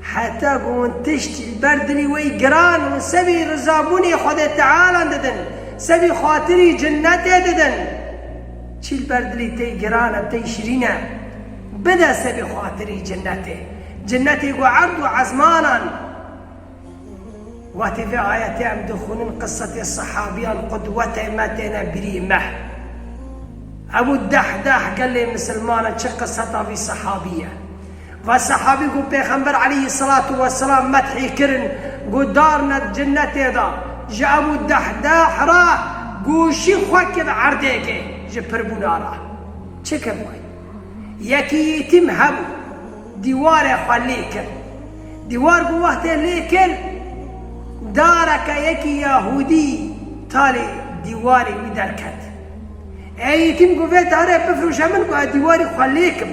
Heta ku hûn tiştî li ber dilî wê giran û sevî rizabûnê Xwedê Tealan didin, sevî xatirî cinetê didin. Çî li ber dilî tey giran e, tey şirîn e, bide sevî xatirî cinetê. Cinetê ku erd û ezmanan Watê vê ayetê em dixwînin qisetê sehabîyan qudwetê me têne birî me. Ebû Dehdah gelê misilman e, çi qiseta vî sehabî ye. Ve sehabî ku Pêxember eleyhî selatu weselam methî kirin got dar ne di cenetê de ji Ebû Dehdeh re goşî xwe kir erdêkê ji pirbûna re. Çi kir wê? Yekî yîtîm hebû dîwarê xwe lê kir. Dîwar ku wextê lê kir dareke yekî yahûdî talê dîwarê wî derket. Ê yîtîm got vê darê bifirûşe min ku ez dîwarî xwe lê kim.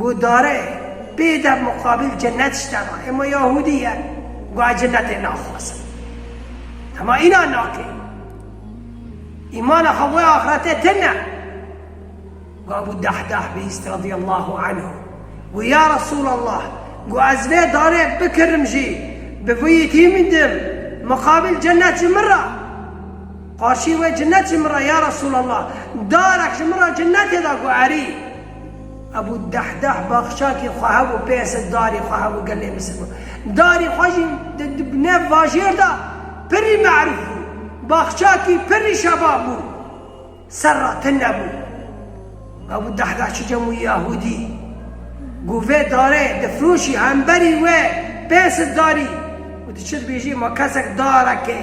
Gudare, Bê dev muqabil cinnet ji te re, ema yahûdî ye, guhê cinnetê naxwaze. Dema înan nake, îmana xwe wê axirete tine. Gu Ebû Dehdah bihîst radîyallahu anhu, gu Ya Resûlallah, gu ez vê darê bikirim jî, bi vî yekî midim, muqabil cinnet ji min re. Qarşî wê cinnet ji min re, Ya Resûlallah, darek ji min re cinnetê da, gu erî. Hebû deh deh baxçakê xwe hebû pê se darî xwe hebû gelê Misir bû. Darî xwe jî di di nev bajêr de pirrî merûf bû. Baxçakî pirrî şebab bû. Ser re tin nebû. Hebû deh deh çi cem û yahûdî ku vê darê difiroşî hemberî wê pê se darî û tu çi dibêjî ma kesek darekê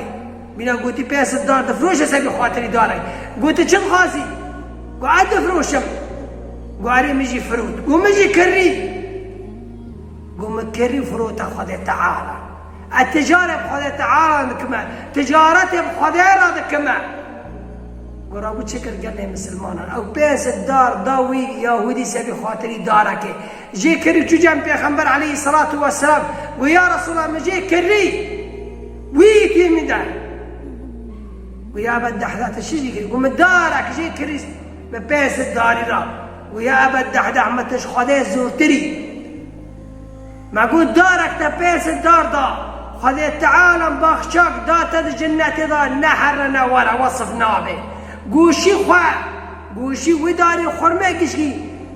Mîna gotî pê ez li dar difiroşe ser vî xatirî dare. Got tu çi dixwazî? Got ev difiroşim. Got erê min jî firot. Got min jî kirrî. Got min kirrî û firote Xwedê Teala. Ez ticarê bi Xwedê Teala dikim e. Ticaretê bi Xwedê re dikim e. Got rabû çi kir gelê misilmanan. Ew pê ez li dar da wî yahûdî ser vî xatirî darekê. Jê kir û çû cem Pêxember aleyhî selatû weselam got, Ya Resûlellah min jê kirî wî yîtî min de. Got, Ya Eba Dehdah tu çi jî kirî? Got, min darek jê kirî min pê zid darî ra. Got, Ya Eba Dehdah min tu ji Xwedê zûrtir î. Me got, darek te pê zid dar da, Xwedê Teala min baxçak da te di cenetê de ne here ne were wesif nabe. Goşî xwe goşî wî darî xurmê gişkî.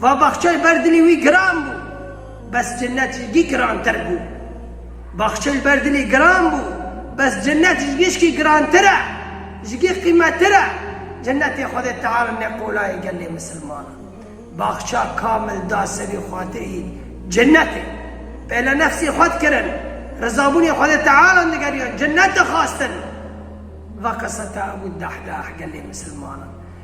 Va baxçeyê ber dilê wî giran bû, bes cinnet ji gî girantir bû. Baxçeyê ber dilê giran bû, bes cinnet ji gişkî girantir e, ji gî qîmetir e. Cinnetê Xwedê Teala ne qola ye gelê misilmanan. Baxça kamil da serî xatirî cinnetê. Pêle nefsê xwe dikirin, rizabûnê Xwedê Tealan digeriyan, cinnet dixwastin. Va qiseta Ebû Dahdah gelê misilmanan.